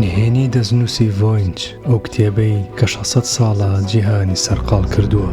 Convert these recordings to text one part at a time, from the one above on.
نهێنی دەستنووسی ڤۆینچ ئەو کتێبەی کە 600 ساڵە جیهانی سەرقاڵ کردووە.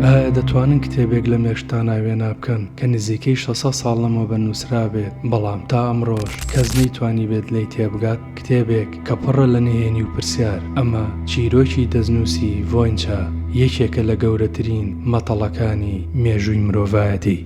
ئایا دەتوانن کتێبێک لە مێشتا ناوێنا بکەن کە نزیکەی 600 ساڵ لەمەوە بە نووسرابێت بەڵام تا ئەمڕۆژ کەس نەیتوانی بێت لی تێبگات کتێبێک کە پڕە لە نهێنی و پرسیار، ئەمە چیرۆکی دەستنووسی ڤۆینچا، یەکێکە لە گەورەترین مەتەڵەکانی مێژووی مرۆڤایەتی.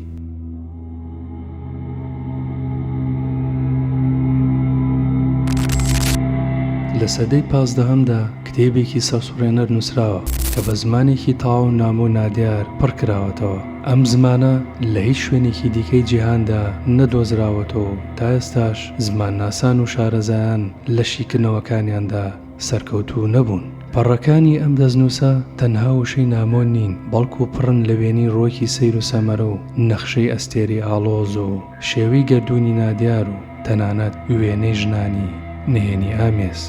لە سەدەی پازدەهەمدا کتێبێکی سەرسوڕێنەر نووسراوە کە بە زمانێکی تەواو نامۆ و نادیار پڕ کراوەتەوە، ئەم زمانە لە هیچ شوێنێکی دیکەی جیهاندا نەدۆزراوەتەوە و، تا ئێستاش زمانناسان و شارەزایان لە شیکردنەوەکانیاندا سەرکەوتوو نەبوون. پەڕەکانی ئەم دەستنووسە تەنها وشەی نامۆ نین، بەڵکو پڕن لە وێنەی ڕوەکی سەیر و سەمەرە و نەخشەی ئەستێرەی ئاڵۆز و شێوەی گەردوونی نادیار و تەنانەت وێنەی ژنانی نهێنی ئامێز.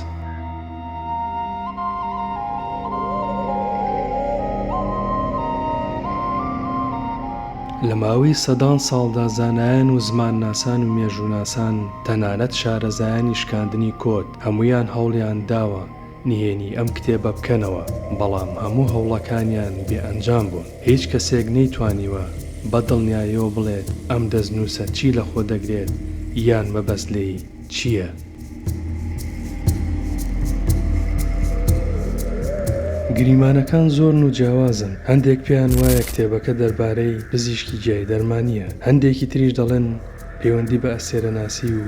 لە ماوەی سەدان ساڵدا زانایان و زمانناسان و مێژووناسان تەنانەت شارەزایانی شکاندنی کۆد هەموویان هەوڵیان داوە نهێنی ئەم کتێبە بکەنەوە بەڵام هەموو هەوڵەکانیان بێ ئەنجام بوون هیچ کەسێک نەیتوانیوە بە دڵنیایەوە بڵێت ئەم دەستنووسە چی لە خۆ دەگرێت یان مەبەست لێی چییە؟ گریمانەکان زۆرن و جیاوازن، هەندێک پێیان وایە کتێبەکە دەربارەی پزیشکی گیای دەرمانییە، هەندێکی تریش دەڵێن پێوەندی بە ئەستێرەناسی و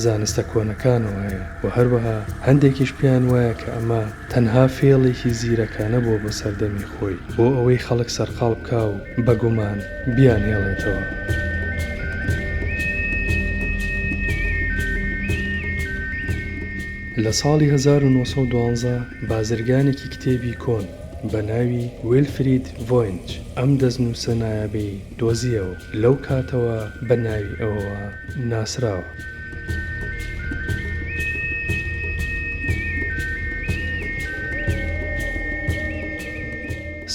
زانستە کۆنەکانەوە هەیە و هەروەها هەندێکیش پێیان وایە کە ئەمە تەنها فێڵێکی زیرەکانە بووە بۆ سەردەمی خۆی بۆ ئەوەی خەڵک سەرقاڵ بکا و بە گومان بیانهێڵێتەوە. لە ساڵی هەزار و نۆ سەد و دوازدە بازرگانێکی کتێبی کۆن بە ناوی ویلفرید ڤۆینچ ئەم دەستنووسە نایابەی دۆزییەوە و لەو کاتەوە بە ناوی ئەوەوە ناسراوە.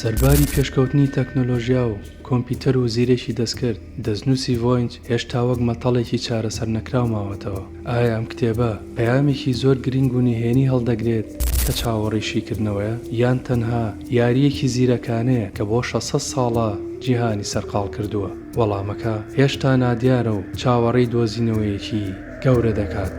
سەرباری پێشکەوتنی تەکنۆلۆژیا و کۆمپیوتەر و زیرەکی دەستکرد، دەستنووسی ڤۆینچ هێشتا وەک مەتەڵێکی چارەسەر نەکراو ماوەتەوە. ئایا ئەم کتێبە پەیامێکی زۆر گرنگ و نهێنی هەڵدەگرێت کە چاوەڕێی شیکردنەوەیە، یان تەنها یارییەکی زیرەکانەیە کە بۆ شەش سەد ساڵە جیهانی سەرقاڵ کردووە؟ وەڵامەکە هێشتا نادیارە و چاوەڕێی دۆزینەوەیەکی گەورە دەکات.